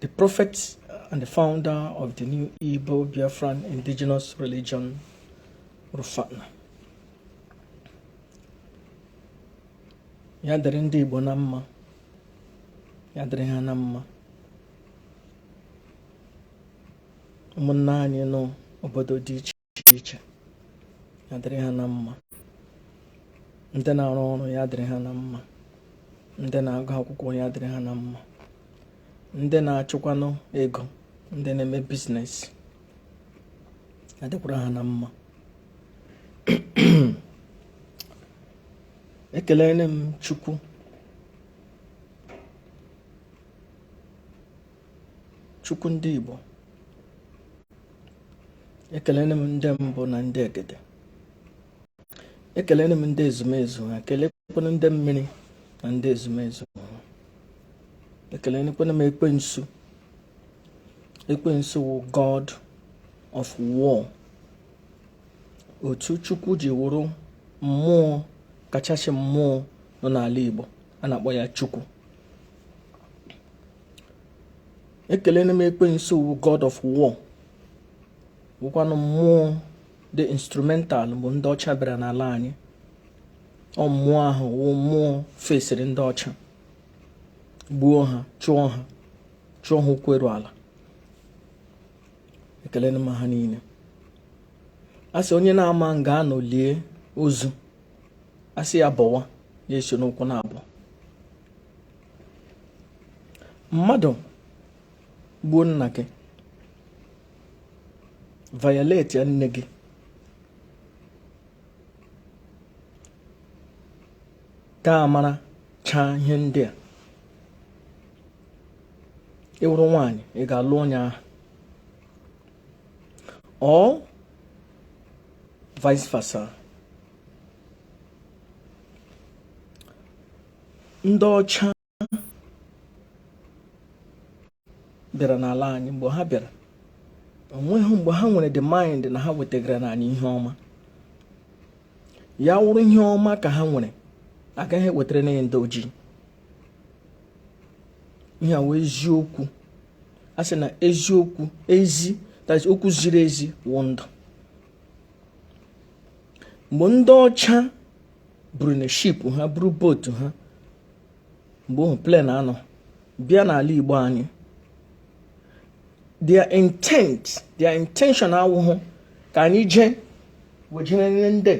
The prophet and the founder of the new Igbo Biafran indigenous religion, Rufana. ya dịrị ndị Igbo na mma ya dịrị ha na mma ụmụnna anyị nọ obodo dị iche iche ya dịrị ha na mma ndị na-arụ ọrụ ya dịrị ha na mma ndị na-agụ akwụkwọ ya dịrị ha na mma ndị na-achụkwanụ ego ndị na-eme biznes ya dịkwara ha na mma ekelele m chukwu Chukwu ndị Igbo ekelele m ndị mbụ na ndị egede ekelele m ndị ezumezu ha ekelekwana ndị mmiri na ndị ezumezu ha ekelekwana m ekwensu ekwensu wụ god of war otu chukwu ji wụrụ mmụọ kachasị mmụọ nọ n'ala igbo a na-akpọ ya chukwu ekelele m ekwensu wụ god of war wụkwanụ mmụọ dị instrumental bụ ndị ọcha bịara n'ala anyị ọ mmụọ ahụ wụ mmụọ fesiri ndị ọcha gbuo ha chụọ ha chụọ ha ụkwụ eru ala ekelele m ha niile a sị onye na-ama nga a nọ lie ozu a sị ya bọwa ya esi n'ụkwụ na-abọ mmadụ gbuo nna gị violatie nne gị gị amarachaa ihe ndị a ị wụrụ nwaanyị ị ga-alụ onye ahụ or vice versa ndị ọcha bịara n'ala anyị mgbe ha bịara o nweghị mgbe ha nwere the mind na ha wetagara na anyị ihe ọma ya wụrụ ihe ọma ka ha nwere agaghị ewetara na ndị ojii ihe a wụ eziokwu a sị na eziokwu ezi okwu ziri ezi wụ ndụ mgbe ndị ọcha buru na ship ha buru boat ha mgbe ahụ plane anọ bịa n'ala igbo anyị their intent their intention awụhụ ka anyị jee wejere ndị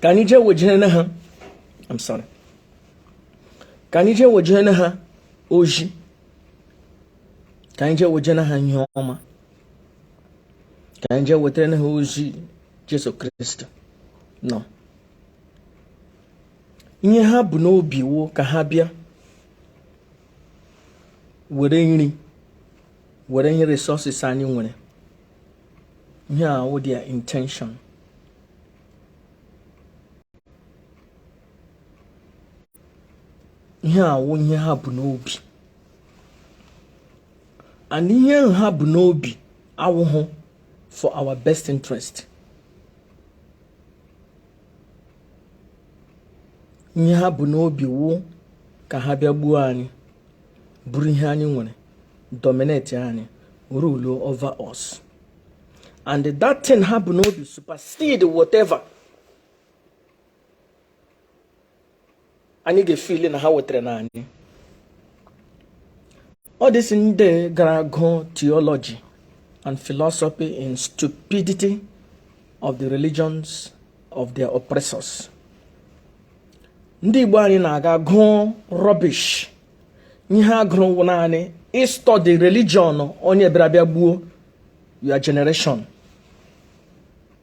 ka anyị jee wejere ha I'm sorry ka anyị jee wejere ha ozi ka anyị jee wejere ha ihe ọma ka anyị jee wetara ha ozi Jesu Kristi no ihe ha bu n'obi wụ ka ha bịa were nri were ihe resources anyị nwere ihe a wụ their intention ihe a wụ ihe ha bu n'obi and ihe ahụ ha bu n'obi awụhụ for our best interest ihe ha bu n'obi wụ ka ha bịa gbuo anyị buru ihe anyị nwere dominate anyị rule over us and that thing ha bu n'obi supersede whatever anyị ga-efeel na ha wetara na anyị all these ndị gara gụọ theology and philosophy in stupidity of the religions of their oppressors ndị Igbo anyị na-aga gụọ rubbish ihe a gụrụ wụ naanị ịstudy religion onye bịara bịa gbuo your generation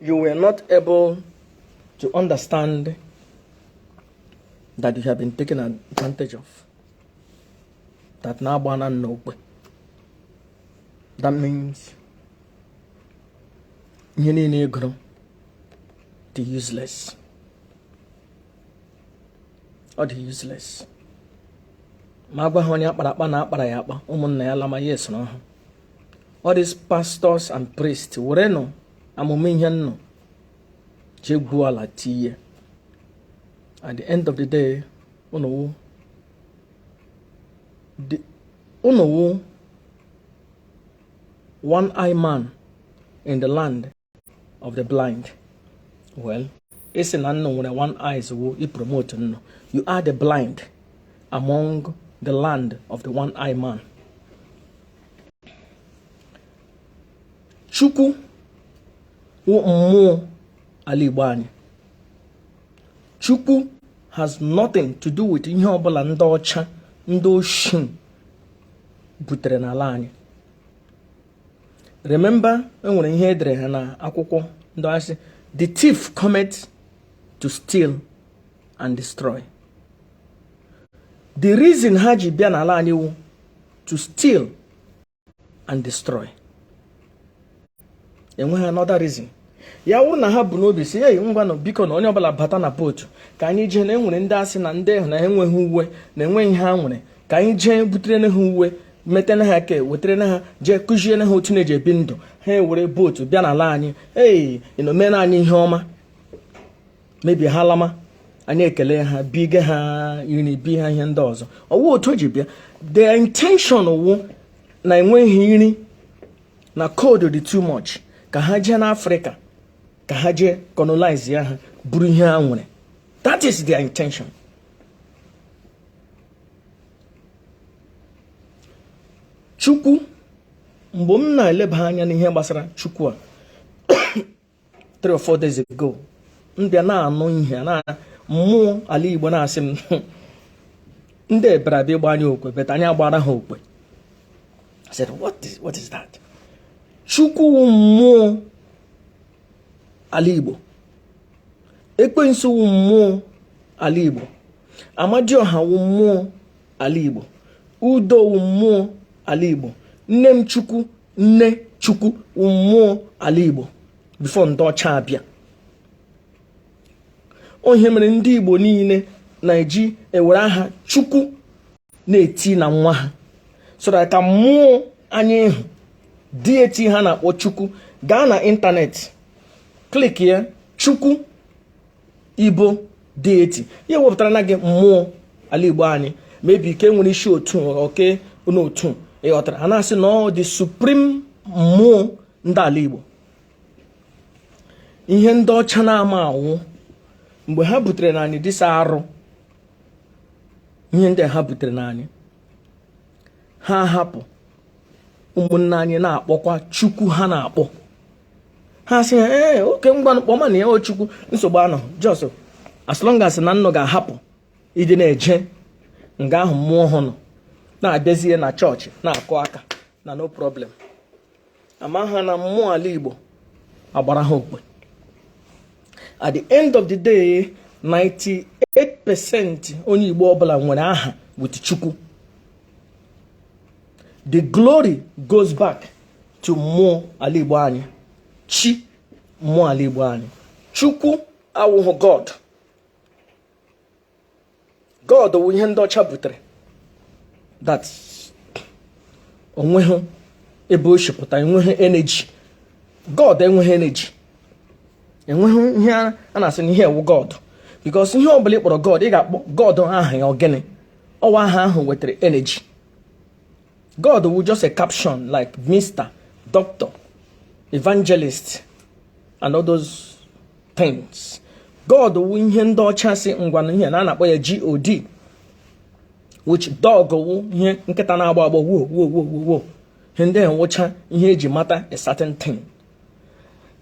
You were not able to understand that you have been taken advantage of. That na a gbaana nnụ okwe. That means ihe niile ị gụrụ dị useless. ọ dị useless ma a gwa ha onye a kpara akpa na a kpara ya akpa ụmụnna ya lama ya esoro ha all these pastors and priests werenụ amụma ihe nnụ je gwuo ala tinye at the end of the day ụnụ wụ ụnụ wụ one eye man in the land of the blind well ịsị na nnụ nwere one eyes wụ ịpromote nnụ you are the blind among the land of the one eye man chukwu wụ mmụọ ala igbo anyị chukwu has nothing to do with ihe ọbụla ndị ọcha ndị oshi butere n'ala anyị remember enwere ihe edere ha na akwụkwọ ndị a sị the thief cometh to steal and destroy the reason ha ji bịa n'ala anyị wụ to steal and destroy enweghị another reason ya wụrụ na ha bu n'obi sị ei ngwanụ biko na onye ọbụla bata na bootu ka anyị jee na enwere ndị a sị na ndị ahụ na enweghị uwe na enweghị ihe ha nwere ka anyị jee butere na ha uwe metena ha ke wetara na ha jee kụzie na ha otu na-eji ebi ndụ ha ewere bootu bịa n'ala anyị ei unu mere anyị ihe ọma maybe ha lama anyị ekele ha biga ha iri bi ha ihe ndị ọzọ ọwụ otu o ji bịa the intention wụ na enweghị iri na cold dị too much ka ha jee n'afrịka ka ha jee colonize ya ha buru ihe ha nwere that is their intention chukwu mgbe m na-eleba anya n'ihe gbasara chukwu a three or four days ago m bịa na-anụ ihe na mmụọ ala igbo na-asị m ndị bịara abịa ịgba anyị okwe but anyị agbara ha okwe I said what is that chukwu wụ mmụọ ala igbo ekwensu wụ mmụọ ala igbo amadioha wụ mmụọ ala igbo udo wụ mmụọ ala igbo nne m chukwu nne chukwu wụ mmụọ ala igbo before ndị ọcha abịa ọ ihe mere ndị igbo niile na-eji ewere aha chukwu na-eti na nwa ha so that ka mmụọ anyị ahụ deity ha na-akpọ chukwu gaa na ịntanetị klik ya chukwu igbo deity ya ewepụtara na gị mmụọ ala igbo anyị maybe ke nwere isi otu oke n'otu ịghọtara ha na-asị na ọ the supreme mmụọ ndị ala igbo ihe ndị ọcha na-amaghị wụ mgbe ha butere na anyị these arụ ihe ndị ha butere na anyị ha hapụ ụmụnne anyị na-akpọkwa chukwu ha na-akpọ ha sị ya ee okay ngwanụ kpọmanụ ya chukwu nsogbu anọghị just as long as na unu ga-ahapụ ịdị na-eje nga ahụ mmụọ ahụ nọ na-abịazie na chọọchị na-akụ aka na no problem ama ha na mmụọ ala igbo agbara ha okwe at the end of the day 98% onye igbo ọbụla nwere aha with chukwu the glory goes back to mmụọ ala Igbo anyị chi mmụọ ala Igbo anyị chukwu awụhụ god god wụ ihe ndị ọcha butere that onweghị ebe o shi pụta enweghị energy god enweghị energy enweghị ihe a na-asị na ihe a wụ god because ihe ọ bụla ị kpọrọ god ị ga-akpọ god aha ya ọ gịnị ọ wụ aha ahụ wetara energy God wụ just a caption like Mr. Doctor, Evangelist, and all those things. God wụ ihe ndị ọcha sị ngwanụ ihe na a na-akpọ ya GOD which dog wụ ihe nkịta na-agba agba wo wo wo wo wo ihe ndị ahụ wụcha ihe e ji mata a certain thing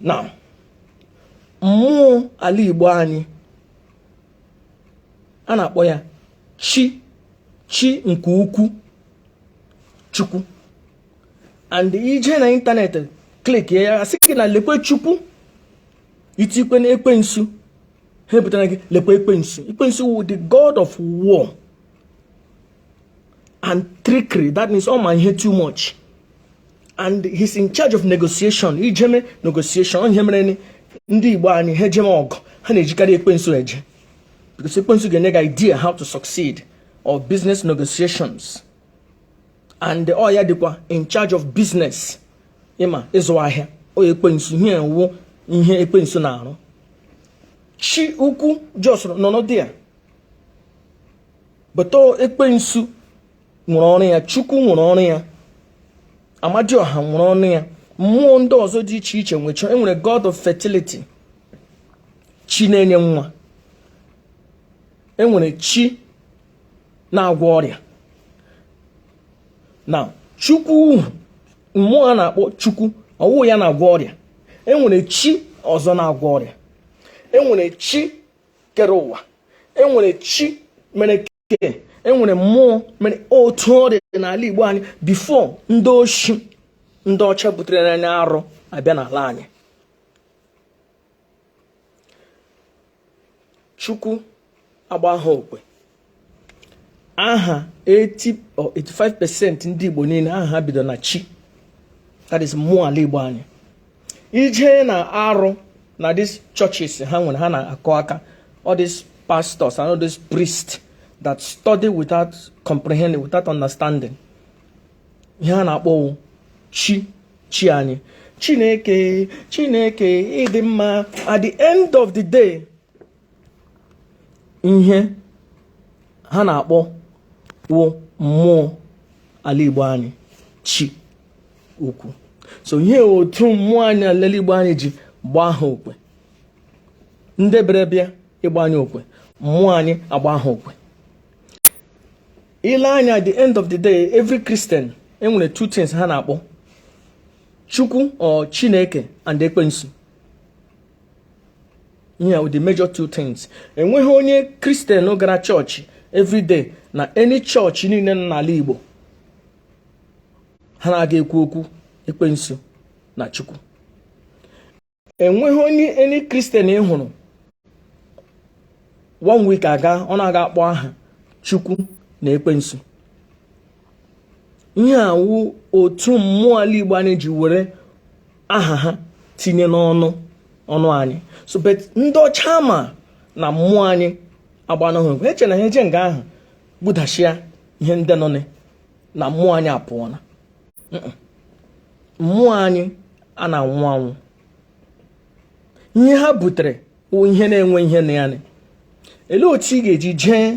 now mmụọ ala Igbo anyị a na-akpọ ya chi chi nke ukwu chukwu and i je na internet click ya asị gị na lekwe chukwu i tikwe na ekwensu ha ebutara gị lekwe ekwensu ekwensu wụ the god of war and trickery that means ọ ma ihe too much and he's in charge of negotiation i jeme negotiation ihe mere ndị Igbo anyị ha ejeme ọgụ ha na-ejikarị ekwensu eje because ekwensu ga-enye gị idea how to succeed or business negotiations and ọ ya dịkwa in charge of business ịma ịzụ ahịa ọ ekwensu ihe a wụ ihe ekwensu na-arụ chi ukwu just nọ n'ọdụ ya but ekwensu nwere ọrụ ya chukwu nwere ọrụ ya amadioha nwere ọrụ ya mmụọ ndị ọzọ dị iche iche nwecha enwere god of fertility chi na-enye nwa enwere chi na-agwọ ọrịa now chukwu mmụọ a na-akpọ chukwu ọ wụ ya na-agwọ ọrịa enwere chi ọzọ na-agwọ ọrịa enwere chi kere ụwa enwere chi mere ke enwere mmụọ mere otu ọ dị n'ala Igbo anyị before ndị oshi ndị ọcha butere n'anya arụ abịa n'ala anyị chukwu agba ha ọkụ e aha 80 or 85 percent ndị Igbo niile aha ha bido na chi that is mmụọ ala Igbo anyị i je na around these churches ha nwere ha na-akụ aka all these pastors and all these priests that study without comprehending without understanding ihe ha na-akpọ wụ chi chi anyị chineke chineke ị dị mma at the end of the day ihe ha na-akpọ wụ mmụọ ala Igbo anyị chi ukwu so ihe otu mmụọ anyị ala Igbo anyị ji gbaa ha okwe ndị bịara bịa ịgba anyị okwe mmụọ anyị agbaa ha okwe ile anya at the end of the day every Christian enwere two things ha na-akpọ chukwu or chineke and ekwensu ihe ahụ the major two things enweghị onye Christian gara church everyday na any church niile nọ n'ala Igbo ha na-aga ekwu okwu ekwensu na chukwu enweghị onye any Christian ị hụrụ one week aga ọ na-aga akpọ aha chukwu na ekwensu ihe a wụ otu mmụọ ala Igbo anyị ji were aha ha tinye n'ọnụ anyị so but ndị ọcha ma na mmụọ anyị agbanahụ ha eche na ha eje nga ahụ gbudashia ihe ndị nọ na mmụọ anyị apụọ na mmụọ anyị a na-anwụ anwụ ihe ha butere wụ ihe na-enwe ihe na ya elee otu ị ga-eji jee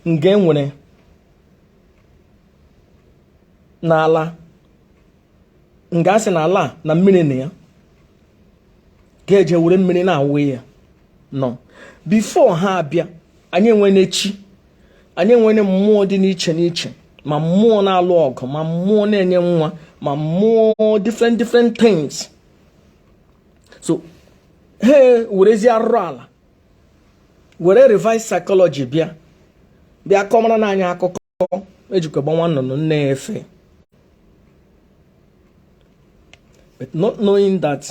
nga enwere n'ala nga a sị na ala na mmiri na ya ga-eje were mmiri na-awụ ya no before ha abịa anyị enwene chi anyị enwene mmụọ dị n'iche n'iche ma mmụọ na-alụ ọgụ ma mmụọ na-enye nwa ma mmụọ different different things so ha werezie arụrụ ala were reverse psychology bịa bịa kọmara na anyị akụkọ e jikwa gbaa nwa nnụnụ nne ya efee but not knowing that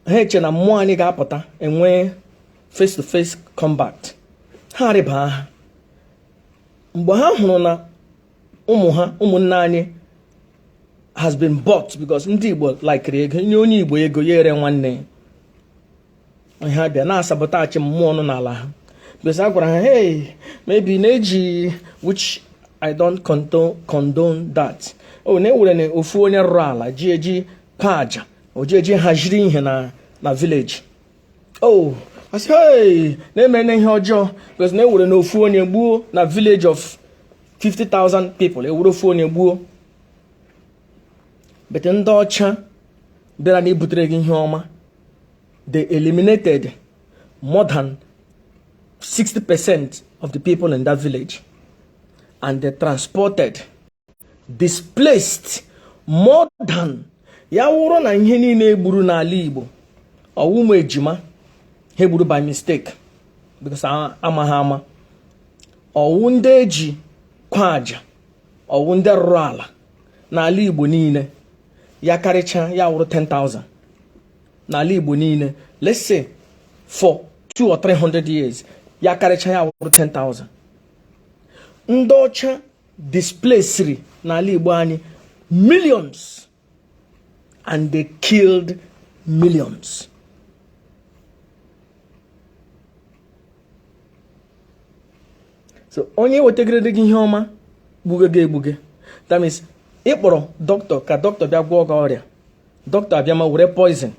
ha eche na mmụọ anyị ga-apụta enwe face to face combat ha rịba ha mgbe ha hụrụ na ụmụ ha ụmụnne anyị has been bought because ndị Igbo likere ego nye onye Igbo ego ya ere nwanne ya ha bịa na-asabotage mmụọ nọ n'ala ha because a gwara ha hey maybe na e ji which I don't condone that o oh, na e werenụ ofu onye rụrụ ala ji eji kwa aja o ji eji haziri ihe na na village oh a sị hey na-eme na ihe ọjọọ because na e werenụ ofu onye gbuo na village of 50,000 people e were ofu onye gbuo but ndị ọcha bịara nụ ibutere gị ihe ọma they eliminated more than 60% of the people in that village and they transported displaced more than ya wụrụ na ihe niile egburu n'ala Igbo ọwụ ụmụ ejima ha egburu by mistake because amaghị ama ọwụ ndị eji kwaa aja ọwụ ndị rụrụ ala n'ala Igbo niile ya karịcha ya wụrụ 10,000 n'ala Igbo niile let's say for 2 or 300 years ya karịcha ya wụrụ 10,000 ndị ọcha displaced n'ala Igbo anyị millions and they killed millions so onye wetagidere gị ihe ọma gbuge gị egbuge that means ị kpọrọ doctor ka doctor bịa gwọọ gị ọrịa doctor abịa ma were poison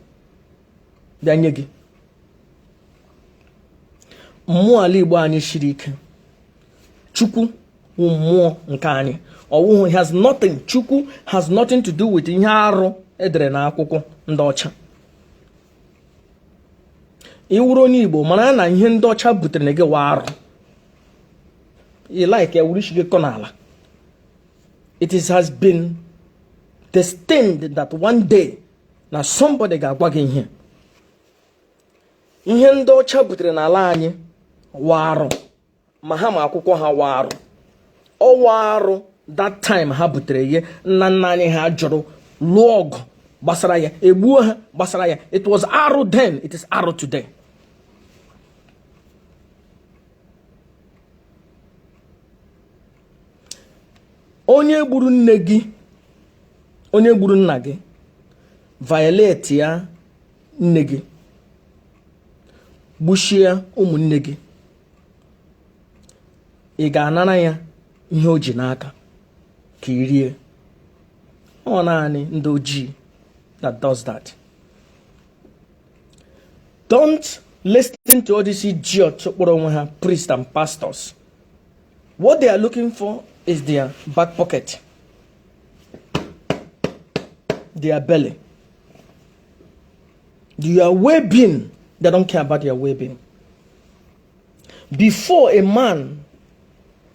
bịa nye gị mmụọ ala igbo anyị siri ike chukwu wụ mmụọ nke anyị ọwụhụ has nothing chukwu has nothing to do with ihe arụ edere na akwụkwọ ndị ọcha ị wụrụ onye igbo mara na ihe ndị ọcha butere na gị wụ arụ ị like ya wuru ishi gị kụọ n'ala it has been destined that one day na somebody ga-agwa gị ihe ihe ndị ọcha butere n'ala anyị wụ arụ ma ha ma akwụkwọ ha wụ arụ ọwụ arụ that time ha butere ya nna nna anyị ha jụrụ lụọ ọgụ gbasara ya egbuo ha gbasara ya it was arụ then it is arụ today onye gburu nne gị onye gburu nna gị violate ya nne gị gbusịa ụmụnne gị ị ga-anara ya ihe o ji n'aka ka i rie ọ naanị ndị ojii that does that don't listen to all these idiots kpọrọ onwe ha priests and pastors what they are looking for is their back pocket their belly Your well-being, they don't care about your well-being. Before a man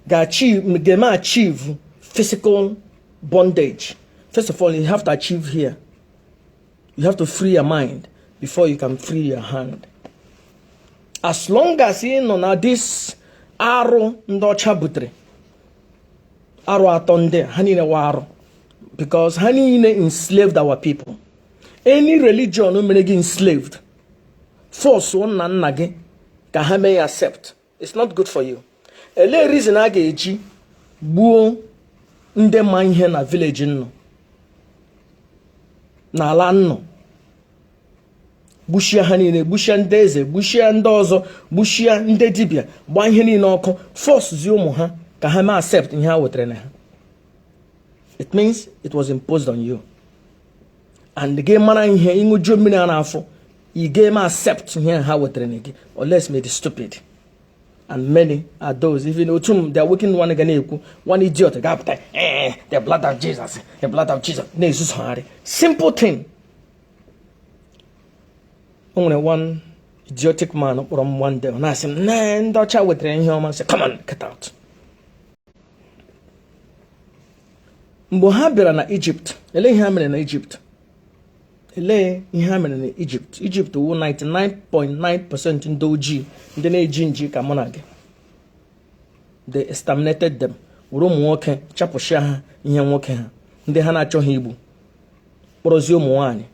can achieve, can achieve physical bondage, first of all, you have to achieve here. You have to free your mind before you can free your hand. As long as you know now this arrow ndị ọcha butere arụ atọ ndị ha niile wa arụ because ha niile enslaved our people any religion mere gị enslaved force nna nna gị ka ha mee accept it's not good for you elee reason a ga-eji gbuo ndị ma ihe na village unu n'ala unu gbusịa ha niile gbusịa ndị eze gbusịa ndị ọzọ gbusịa ndị dibịa gbaa ihe niile ọkụ forcezie ụmụ ha ka ha mee accept ihe ha wetara na ha it means it was imposed on you and gị mara ihe ị ṅụjuo mmiri ara afọ ị ga-eme accept ihe ha wetara na gị unless ma ị dị stupid and many are those even otu m the awakened one ga na-ekwu one idiot ga-apụta eh, the blood of Jesus the blood of Jesus na-ezuzogharị simple thing o nwere one idiotic man kpọrọ m one day ọ na-asị m na ndị ọcha wetara ihe ọma sị come on get out mgbe ha bịara na Egypt ele ihe ha mere na Egypt elee ihe ha mere na Egypt Egypt wụ 99.9% ndị ojii ndị na-eji nji ka mụ na gị they exterminated them were ụmụ nwoke chapụsịa ha ihe nwoke ha ndị ha na-achọghị igbu kpọrọzie ụmụ nwaanyị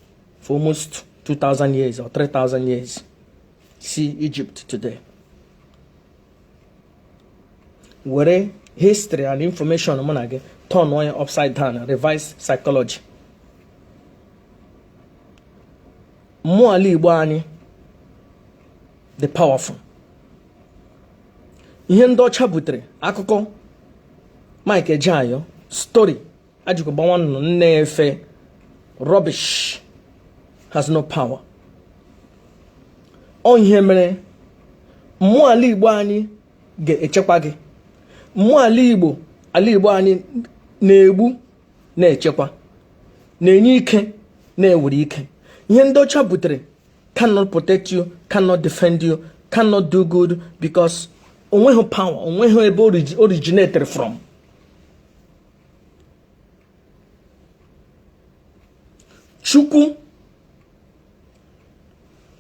for almost 2000 years or 3000 years see Egypt today were history and information mụ na gị turnụọ ya upside down reverse psychology mmụọ ala igbo anyị dị powerful ihe ndị ọcha butere akụkọ Mike Ejeagha story akụkọ a gbaa nwa nnụnụ nne efe rubbish has no power ọ ihe mere mmụọ ala igbo anyị ga-echekwa gị mmụọ ala igbo ala igbo anyị na-egbu na-echekwa na-enye ike na-ewere ike ihe ndị ọcha butere cannot protect you cannot defend you cannot do good because o nweghị power o nweghị ebe originated from chukwu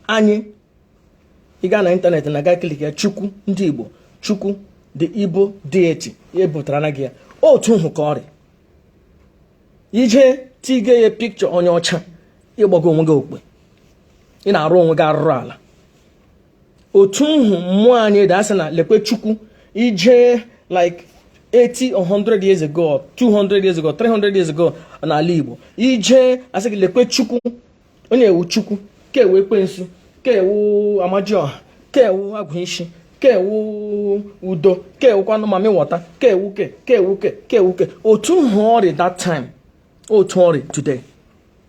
anyị ị gaa na internet na gaa click ya chukwu ndị igbo chukwu the igbo deity ya ebutara na gị ya otu nhụ ka ọ rị ị je tige ya picture onye ọcha ị gbago onwe gị okpe ị na-arụ onwe gị arụrụala otu nhụ mmụọ anyị dị a sị na lekwe chukwu ị je like 80 or 100 years ago 200 years ago 300 years ago n'ala Igbo ị je a sị gị lekwe chukwu onye a wụ chukwu ke a wụ ekwensu ke a wụ amajioha ke a wụ agwụ ishi ke a wụ udo ke a wụkwanụ mami wọta ke a wụ ke ke a wụ ke ke a wụ ke otu nhụ ọ rị that time otu ọ rị today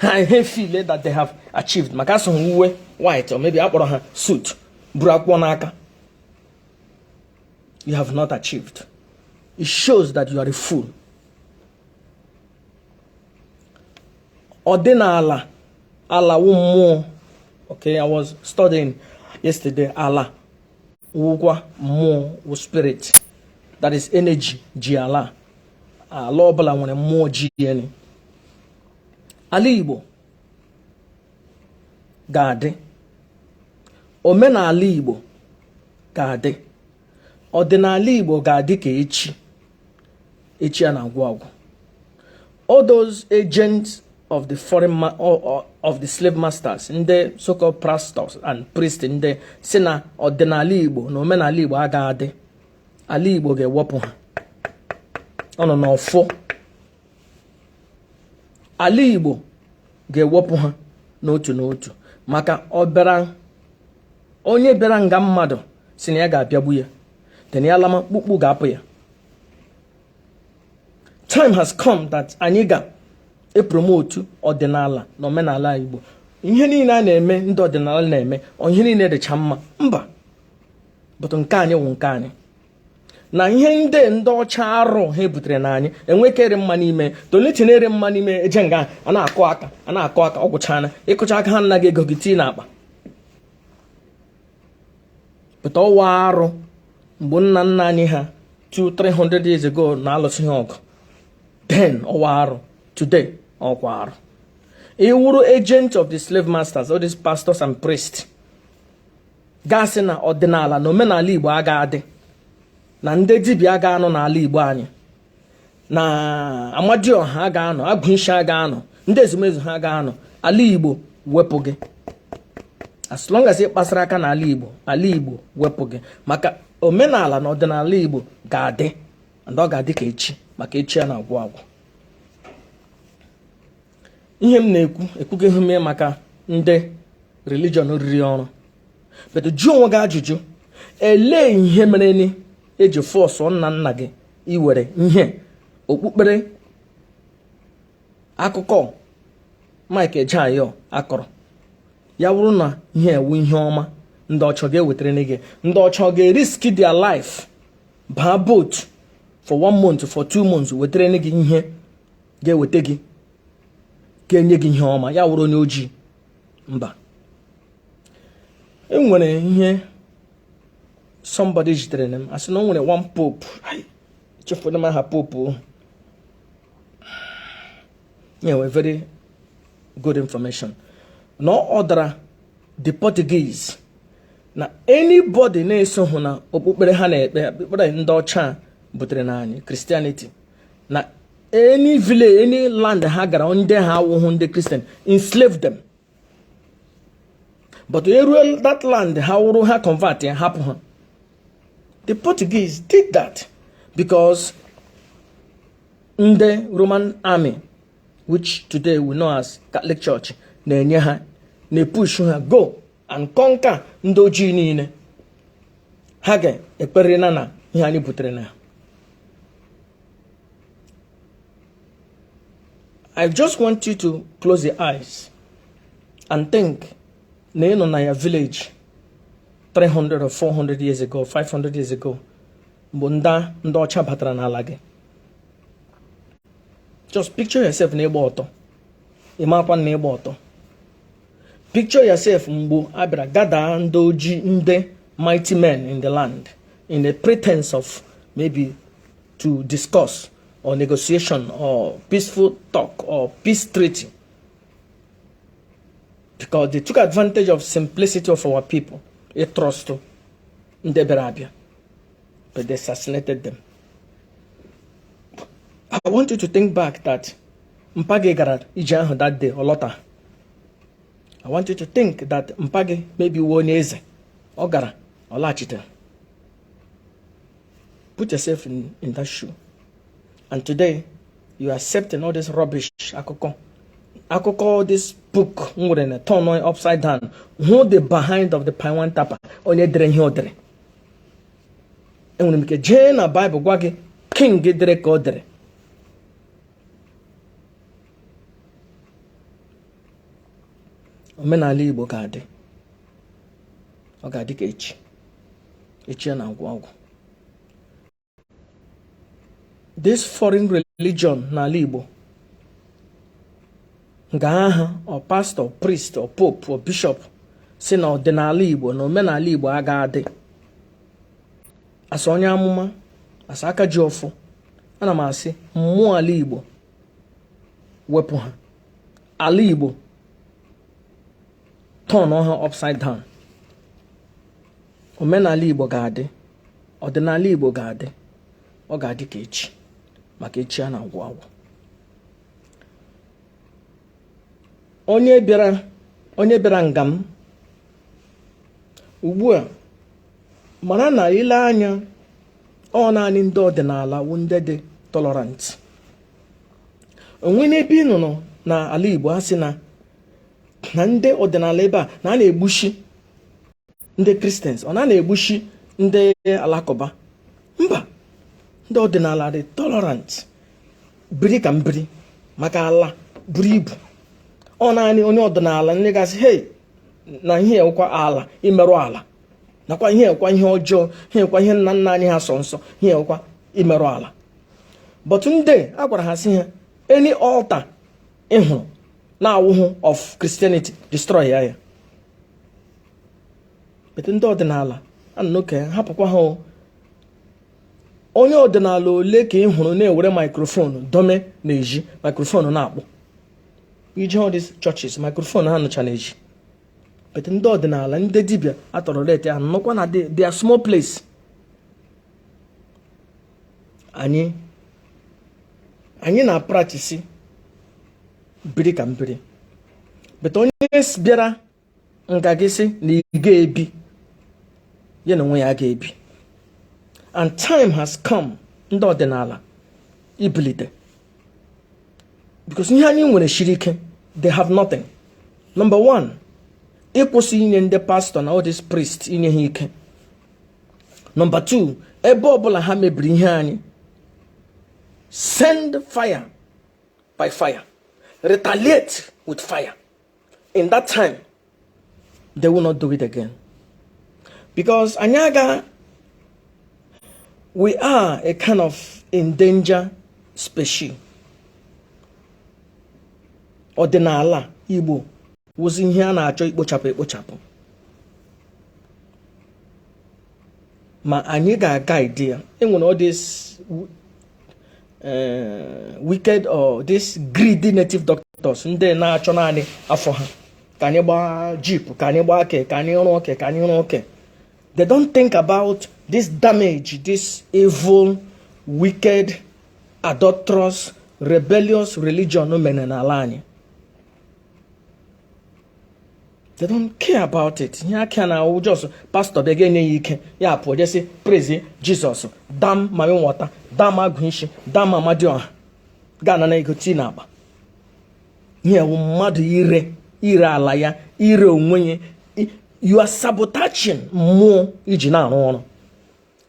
ha e feel that they have achieved maka asụ ha uwe white or maybe akpọrọ ha suit buru akwụkwọ n'aka you have not achieved it shows that you are a fool ọdịnala ala wụ mmụọ okay i was studying yesterday ala wụkwa mmụọ wụ spirit that is energy ji ala ala ọbụla nwere mmụọ ji ya ni ala Igbo ga-adị omenala Igbo ga-adị ọdịnala Igbo ga-adị ka echi echi a na-agwụ agwụ all those agents of the foreign ma of the slave masters ndị so-called pastors and priests ndị sị na ọdịnala Igbo na omenala Igbo aga adị ala Igbo ga-ewepụ ha ọ nọ n'ọfọ ala Igbo ga-ewepụ ha n'otu n'otu maka ọbịara onye bịara nga mmadụ sị na ya ga-abịagbu ya then ya lama kpukpu ga-apụ ya time has come that anyị ga-epromotu ọdịnala na omenala Igbo ihe niile a na-eme ndị ọdịnala na-eme ihe niile dịcha mma mba but nke anyị wụ nke anyị na ihe ndị ndị ọcha arụ ha ebutere na anyị enwekere mma n'ime tolitinere mma n'ime eje nga a na-akụ aka a na-akụ aka ọ gwụchana ị kụcha aka ha ana gị ego gị tii n'akpa but ọ wụ arụ mgbe nna nna anyị ha 2 300 years ago na-alụsị ha ọgụ then ọ wụ arụ today ọkwa arụ ị wụrụ agent of the slave masters all these pastors and priests ga-asị na ọdịnala na omenala Igbo aga adị na ndị dibịa aga anọ n'ala Igbo anyị na Amadioha aga anọ Agwụ ishi aga anọ ndị ezumezu ha aga anọ ala Igbo wepụ gị as long as ị kpasara aka n'ala Igbo ala Igbo wepụ gị maka omenala na ọdịnala Igbo ga-adị and ọ ga-adị ka echi maka echi a na-agwụ agwụ ihe m na-ekwu ekwugahụ m ya maka ndị religion riri ọrụ but jụọ onwe gị ajụjụ elee ihe mereni e ji force nna nna gị iwere ihe okpukpere akụkọ Mike Ejeagha a kọrọ ya wụrụ na ihe a wụ ihe ọma ndị ọcha ga-ewetara gị ndị ọcha ga-eriski their life baa boat for one month for two months wetara gị ihe ga-eweta gị ga-enye gị ihe ọma ya wụrụ onye ojii mba e nwere ihe somebody zitereni m a sị na o nwere one pope chefuru m aha pope o enwe very good information na ọ ordara the Portuguese na anybody na-esohụ na okpukpere ha na-ekpe okpukpere ndị ọcha butere na anyị Christianity na any village any land ha gara ndị ha awụhụ ndị kristian enslave them but eruo that land ha wụrụ ha convertịa hapụ ha the portuguese did that because ndị roman army which today we know as catholic church na-enye ha na-epush ha go and conquer ndị ojii niile ha ga-ekperiri na ihe anyị butere now I just want you to close your eyes and think na ị nọ na your village 300 or 400 years ago 500 years ago mgbe ndị ndị ọcha batara n'ala gị just picture yourself na ị gba ọtọ ị makwa na ị gba ọtọ picture yourself mgbe a bịara gada ndị oji ndị mighty men in the land in a pretense of maybe to discuss or negotiation or peaceful talk or peace treaty because they took advantage of simplicity of our people a trust ndị bịara abịa but they assassinated them I want you to think back that mpa gị gara ije ahụ that day ọ lọta I want you to think that mpa gị maybe wụ onye eze ọ gara ọ laghachite put yourself in, in that shoe and today you are accepting all this rubbish akụkọ akụkọ this book m nwere na turn upside down hụ the behind of the palm wine tapper onye dere ihe o dere enwere m ike jee na Bible gwa gị king dere ka o dere omenala igbo ga-adị ọ ga-adị ka echi echi a na-agwụ agwụ this foreign religion n'ala igbo nga aha ọ pastor priest ọ pope ọ bishop sị na ọdịnala igbo na omenala igbo aga adị as a onye amụma as a aka ji ọfọ ana m asị mmụọ ala igbo wepụ ha ala igbo turn ha upside down omenala igbo ga-adị ọdịnala igbo ga-adị ọ ga-adị ka echi maka echi a na-agwụ agwụ onye bịara nga m ugbu a mara na i lee anya ọ naanị ndị ọdịnala wu ndị dị tolerant o nwene ebe ị nụrụ na ala Igbo a sị na na ndị ọdịnala ebe a na a na-egbushi ndị kristians or na a na-egbushi ndị alakụba mba ndị ọdịnala dị tolerant biri ka m biri maka ala buru ibu ọ naanị onye ọdịnala ndị ga-asị hei na ihe ụkwa ala imerụ ala nakwa ihe a kwa ihe ọjọọ ihe a kwa ihe nna nna anyị ha sọ nsọ ihe a kwa imerụ ala but ndị a gwara ha sị ha any altar ị hụrụ na-awụhụ of Christianity destroy ya ya but ndị ọdịnala anụke hapụkwa ha onye ọdịnala ole ka ị hụrụ na-ewere microphone dome na-eji microphone na-akpụ i je all these churches microphone ha ncha na-eji but ndị ọdịnala ndị dibịa atọrọ ute ha nọkwa na their small place anyị anyị na-apractice biri ka m biri but onye bịara nga gị sị na ị ga-ebi ya na onwe ya ga-ebi and time has come ndị ọdịnala ibilite because ihe anyị nwere shiri ike they have nothing number one ịkwụsị inye ndị pastor na all these priests inye ha ike number two ebe ọbụla ha mebiri ihe anyị send fire by fire retaliate with fire in that time they will not do it again because anyị aga we are a kind of endangered species ọdịnala Igbo wụzi ihe a na-achọ ikpochapụ ekpochapụ ma anyị ga-aguide ya e nwere all these eh, wicked all these greedy native doctors ndị na-achọ naanị afọ ha ka anyị gbaa jeep ka anyị gbaa ke ka anyị rụọ ke ka anyị rụọ ke they don't think about this damage this evil wicked adulterous rebellious religion mere n'ala anyị they don't care about it ihe ha care na ọ wụ just pastor bịa gị enye ya ike ya apụọ je sị praise Jesus damn mami water damn Agwụ isi damn Amadioha gị anara ego tii n'akpa ihe wụ mmadụ ire ire ala ya ire onwe ya you are sabotaging mmụọ i ji na-arụ ọrụ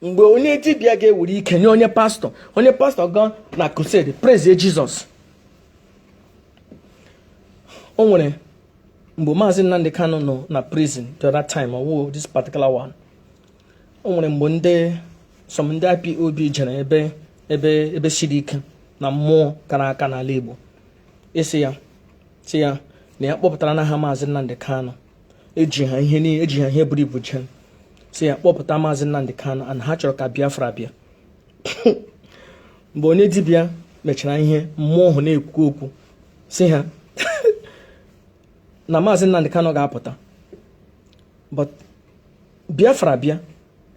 mgbe onye dibịa ga-ewere ike nye onye pastor onye pastor gaa na crusade praise Jesus o nwere mgbe maazị Nnamdi Kanu nọ na prison the other time ọ wụ this particular one o nwere mgbe ndị some ndị IPOB jere ebe ebe ebe siri ike na mmụọ kara aka n'ala Igbo a sị ya sị ya na ya kpọpụtara na ha maazị Nnamdi Kanu eji ha ihe niile eji ha ihe buru ibu jee sị ya kpọpụta maazị Nnamdi Kanu and ha chọrọ ka Biafra bịa mgbe onye dibịa mechara ihe mmụọ ahụ na-ekwu okwu sị ha na maazị Nnamdi Kanu ga-apụta but Biafra bịa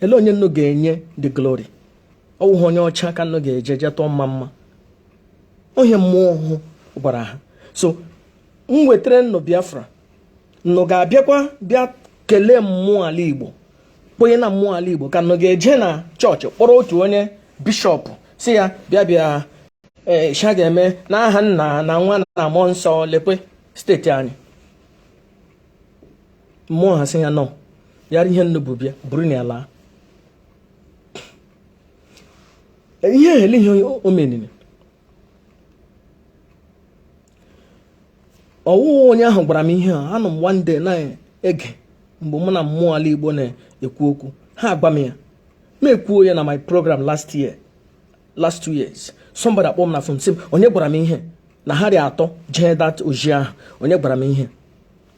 ele onye nnu ga-enye the glory ọ wụghị onye ọcha ka nnu ga-eje jee tụọ mma mma ọ ihe mmụọ ahụ gwara ha so m wetara nnu Biafra nnu ga-abịakwa bịa kelee mmụọ ala Igbo kwenye na mmụọ ala Igbo ka nnu ga-eje na chọọchị kpọrọ otu onye bishọp sị ya bịa bịa e, sha ga-eme n'aha nna na nwa na mmụọ nsọ lekwa steeti anyị mmụọ ahụ sị ya no yara ihe nnu bu bịa buruni ya laa ihe ehele ihe o meniri ọ wụghị onye ahụ gwara m ihe a anọ m one day na-ege mgbe mụ na mmụọ ala igbo na-ekwu okwu ha agwa m ya m ekwuo ya na my program last year last two years somebody akpọ m na fon sị m onye gwara m ihe na ha dị atọ jee that ozi ahụ onye gwara m ihe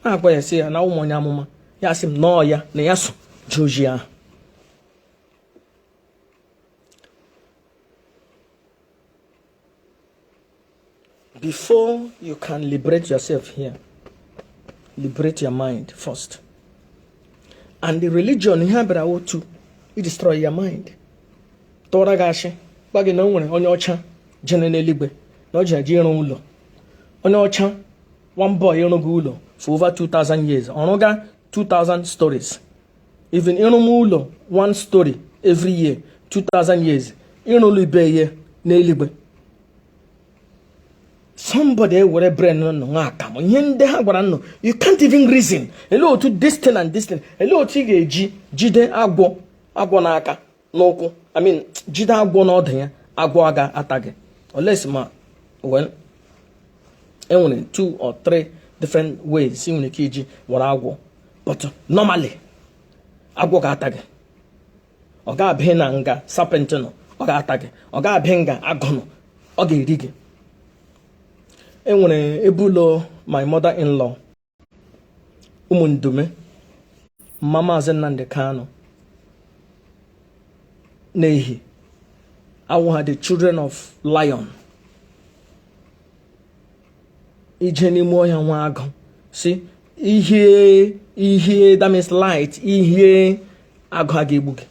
a m agwa ya sị ya na awụ m onye amụma ya sị m na ọ ya na ya so jee ozi ahụ Before you can liberate yourself here, liberate your mind first. And the religion ihe ọ bịara wụ to destroy your mind. Tụọra gị asị, gwa gị na o nwere onye ọcha jere n'eluigwe na o ji eje ịrụ ụlọ. Onye ọcha o boy ị rụga ụlọ for over 2000 years. Ọ rụga 2000 stories. even ị rụma ụlọ one story every year 2000 years i rule ebe ihe n'eluigwe somebody ewere brain nnu ṅụọ akamụ ihe ndị a gwara nnu you can't even reason ele otu this thing and this thing ele otu ị ga-eji jide agwọ agwọ n'aka n'ụkwụ I mean jide agwọ n'ọdụ ya agwọ a ga-ata gị unless ma well enwere two or three different ways ị nwere ike iji were agwọ but normally agwọ ga-ata gị ọ ga-abịa na nga serpent nọ ọ ga-ata gị ọ ga-abịa nga agụ nọ ọ ga-eri gị enwere ebe ụlọ my mother in law ụmụ Ndume mama maazị Nnamdi Kanu n'ihi awụ ha the children of lion i je n'ime ọhịa nwa agụ sị ihe ihe that means light ihe agụ a ga-egbu gị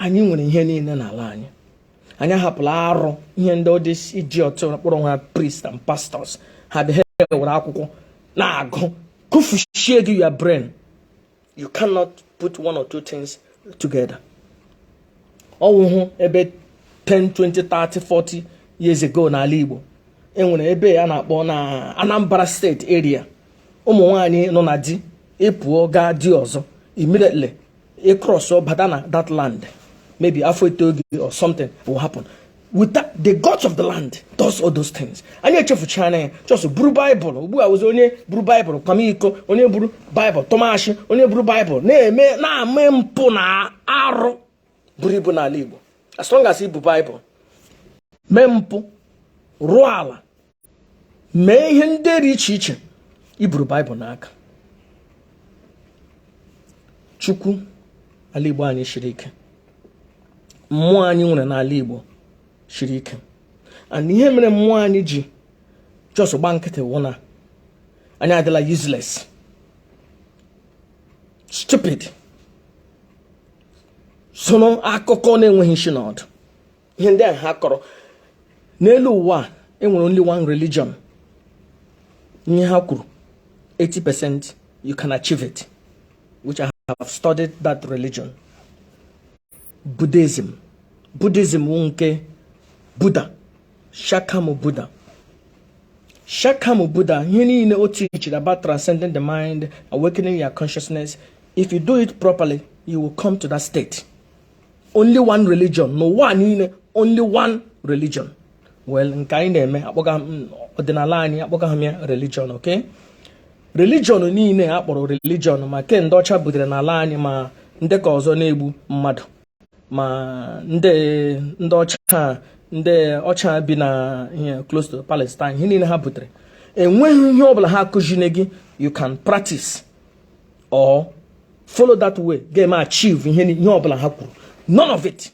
anyị nwere ihe niile n'ala anyị anyị ahapụla arụ ihe ndị idiot kpọrọ onwe ha priest and pastors ha dị ha were akwụkwọ na-agụ kụfuchie gị your brain you cannot put one or two things together ọwụhụ ebe 10 20 30 40 years ago n'ala Igbo enwere ebe a na-akpọ na Anambra State area ụmụ nwanyị nọ na di ị pụọ gaa di ọzọ immediately ị cross bata na that land maybe afọ etoo gị or something will happen with that the gods of the land does all those things anyị echefuchana ya just buru baịbụl ugbu a zi onye buru baịbụl kwama iko onye buru baịbụl tụma ashị onye buru baịbụl na-eme na-eme mpụ na arụ buru ibu n'ala igbo as long as i bu baịbụl mee mpụ rụọ ala mee ihe ndị dị iche iche i buru baịbụl n'aka chukwu ala igbo anyị shiri ike mmụọ anyị nwere n'ala igbo shiri ike and ihe mere mmụọ anyị ji just gba nkịtị wụ na anyị adịla useless stupid soro akụkọ na-enweghị isi na ọdụ ihe ndị a ha kọrọ n'elu ụwa enwere only one religion ihe ha kwuru 80 percent you can achieve it which I have studied that religion Buddhism Buddhism wụ nke Buddha Shakamu Buddha Shakamu Buddha ihe niile o tichiri about transcending the mind awakening your consciousness if you do it properly you will come to that state only one religion n'ụwa niile only one religion well nke anyị na-eme akpọga ọdịnala anyị akpọga ha ya religion okay religion niile a kpọrọ religion ma ke ndị ọcha butere n'ala anyị ma ndị ka ọzọ na-egbu mmadụ ma ndị ndị ọcha ndị ọcha bi na ihe close to Palestine ihe niile ha butere enweghị ihe ọbụla ha akụziri gị you can practice or follow that way ga-eme achieve ihe ihe ọbụla ha kwuru none of it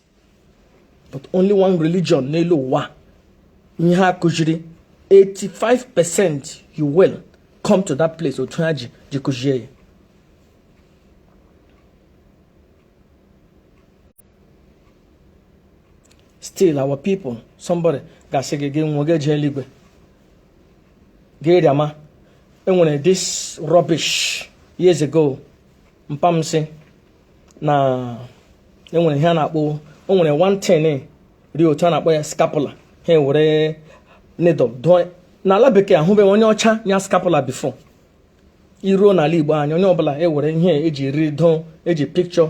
but only one religion n'elu ụwa ihe ha kụziri 85 percent you will come to that place otu ha ji ji kụzie ya still our people somebody ga-asị gị gị nwa ga-eje eluigwe gịrị ama enwere this rubbish years ago mpa m sị na enwere ihe a na-akpọ o nwere one thing rị otu a na-akpọ ya scapula ha ewere needle dụọ n'ala bekee ahụbeghị onye ọcha nya scapula before i ruo n'ala igbo anyị onye ọbụla ewere ihe eji eriri dụọ eji picture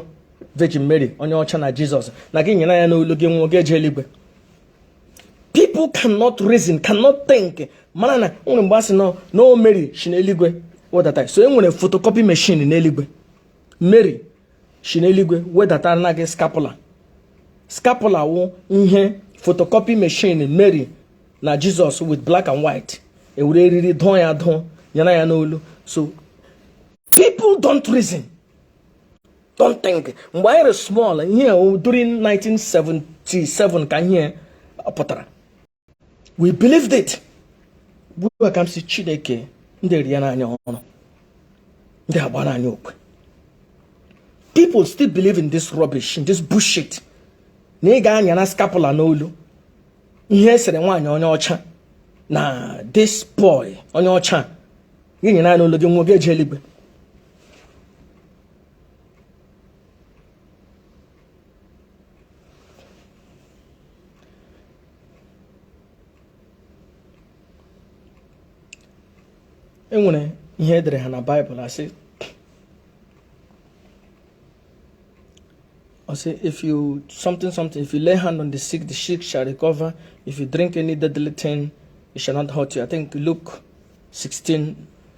Virgin Mary onye ọcha na Jesus na gị nyara ya n'olu gị nwụọ gị eje eluigwe people cannot reason cannot think mana na nwere mgbe a sị nọ na ọ Mary shi n'eluigwe wedata so e nwere photocopy machine n'eluigwe Mary shi n'eluigwe wedatara na gị scapula scapula wụ ihe photocopy machine Mary na Jesus with black and white ewere eriri dụọ ya dụọ nyara ya n'olu so people don't reason don't think mgbe anyị rị small ihe during 1977 ka ihe a pụtara we believed it gbuo ka m si chineke ndị eri ya n'anya ọrụ ndị agba n'anya okwe people still believe in this rubbish in this bullshit na ị ga-anya na scapula n'olu ihe esere nwaanyị onye ọcha na this boy onye ọcha gị nyara ya n'olu gị nwụọ gị eje eluigwe enwere ihe edere ha na baịbụl asị I say, if you something something, if you lay hand on the sick, the sick shall recover. If you drink any deadly thing, it shall not hurt you. I think Luke 16,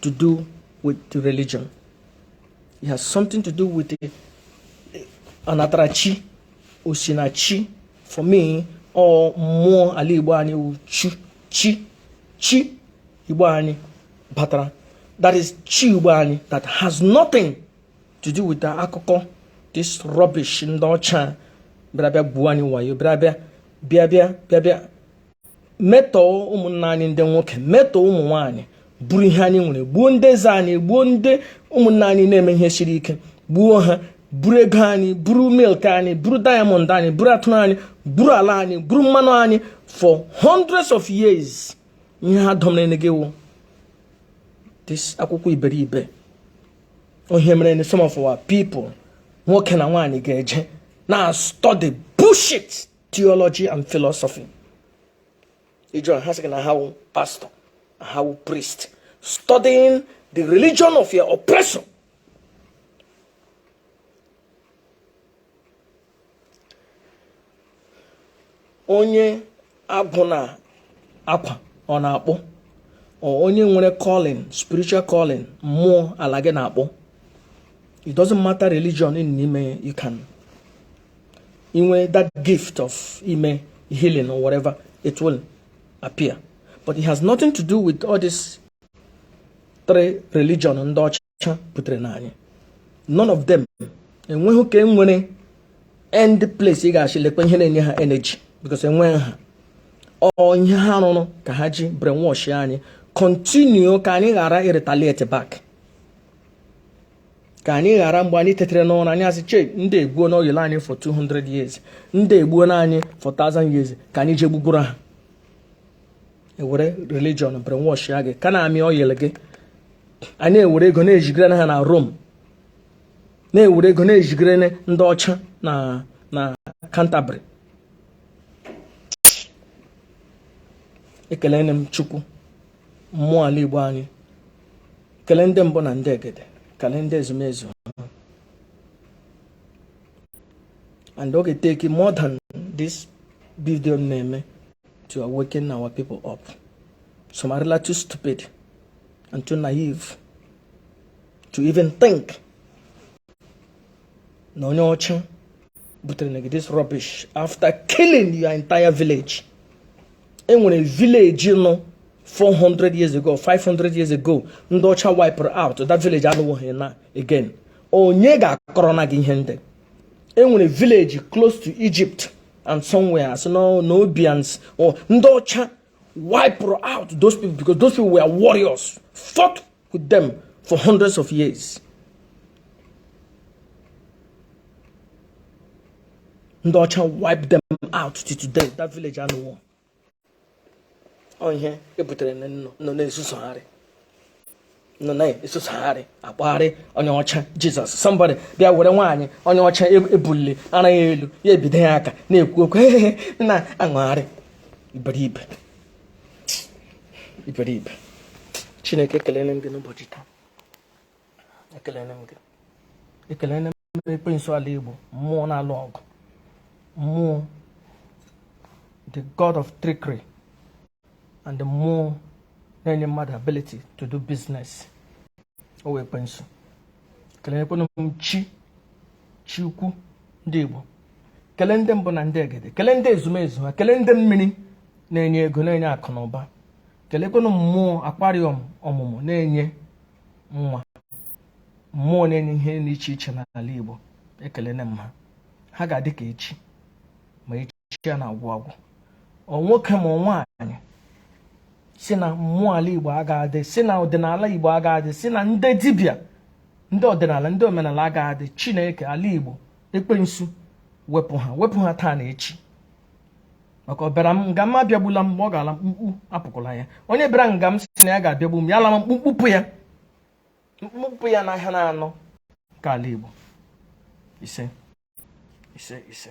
to do with the religion it has something to do with the anatarachi osinachi for me ọ mmụọ ala igbo anyị wụ chi chi chi igbo anyị batara that is chi igbo anyị that has nothing to do with the akụkọ this rubbish ndị ọcha bịara bịa gwuo anyị wayo bịara bịa bịa bịa bịa bịa metọọ ụmụnna anyị ndị nwoke metọọ ụmụ nwaanyị buru ihe anyị nwere gbuo ndị eze anyị gbuo ndị ụmụnna anyị na-eme ihe siri ike gbuo ha buru ego anyị buru milk anyị buru diamond anyị buru atụrụ anyị buru ala anyị buru mmanụ anyị for hundreds of years ihe ha dọmere na gị wụ this akwụkwọ iberibe ọ ihe mere na some of our people nwoke na nwaanyị ga-eje na-study bullshit theology and philosophy ị jụọ ha sị na ha wụ pastor ha wụ priest studying the religion of your oppressor onye agwụ na-akwa or na-akpọ or onye nwere calling spiritual calling mmụọ ala gị na-akpọ it doesn't matter religion ị nọ n'ime you can inwe that gift of ime healing or whatever it will appear but it has nothing to do with all this three religion ndị ọcha butere na anyị none of them enweghị ka enwere any place ị ga-asị lekwa ihe na-enye ha energy because enweghị ha ọ ihe ha rụrụ ka ha ji brainwash anyị continue ka anyị ghara ịretaliate back ka anyị ghara mgbe anyị tetere n'ụra anyị asị che ndị egwuona oyile anyị for 200 years ndị egbuona anyị for 1000 years ka anyị jee gbugwuru ha ewere religion brainwashia gị ka na-amị oyile gị anyị ewere ego na-ezigara na ha na Rome na-ewere ego na-ezigara na ndị ọcha na Canterbury ekelene m Chukwu mmụọ ala Igbo anyị kelee ndị mbụ na ndị egede kelee ndị ezumezu and ọ ga-eteki more than this video m na-eme to awaken our people up some are really too stupid and too naive to even think na onye ọcha butere na gị this rubbish after killing your entire village enwere village nọ 400 years ago 500 years ago ndị ọcha wipụrụ out that village anọwoghị na again onye ga-akọrọ na gị ihe ndị enwere village close to Egypt and somewhere asị na ọ Nubians or ndị ọcha wipụrụ out those people because those people were warriors fought with them for hundreds of years ndị ọcha wipe them out till today that village anọwo ọ ihe ebutere nọ na-ezuzugharị nọ na-ezuzugharị akpagharị onye ọcha jizọs somebody bịa were nwaanyị onye ọcha ebulile ara ya elu ya ebide ya aka na-ekwu okwu na-awagharị iberibe chineke ekelene m gị n'ụbọchị taa ekelene m ekwensu ala igbo mmụọ na-alụ ọgụ mmụọ the god of trickery and the mmụọ na-enye mmadụ ability to do business ọ wụ ekwensu ekelekwanụ m chi chi ukwu ndị Igbo kelee ndị mbụ na ndị egede kelee ndị ezumezu ha kelee ndị mmiri na-enye ego na-enye akụ na ụba kelekwanụ mmụọ akwarị ọmụmụ na-enye nwa mmụọ na-enye ihe dị iche iche n'ala Igbo ekelene m ha ha ga-adị ka echi ma echi chi ya na-agwụ agwụ ọ nwoke ma ọ nwaanyị si na mmụọ ala igbo aga adị si na ọdịnala igbo aga adị si na ndị dibịa ndị ọdịnala ndị omenala aga adị chineke ala igbo ekwensu wepụ ha wepụ ha taa na echi maka ọbịara nga m abịagbula m mgbe ọ ga-ala mkpukpu apụkwala ya onye bịara nga m si na ya ga-abịagbu m ya ala mkpukpu pụọ ya mkpukpu pụọ ya n'ahịa na anọ nke ala igbo ise ise ise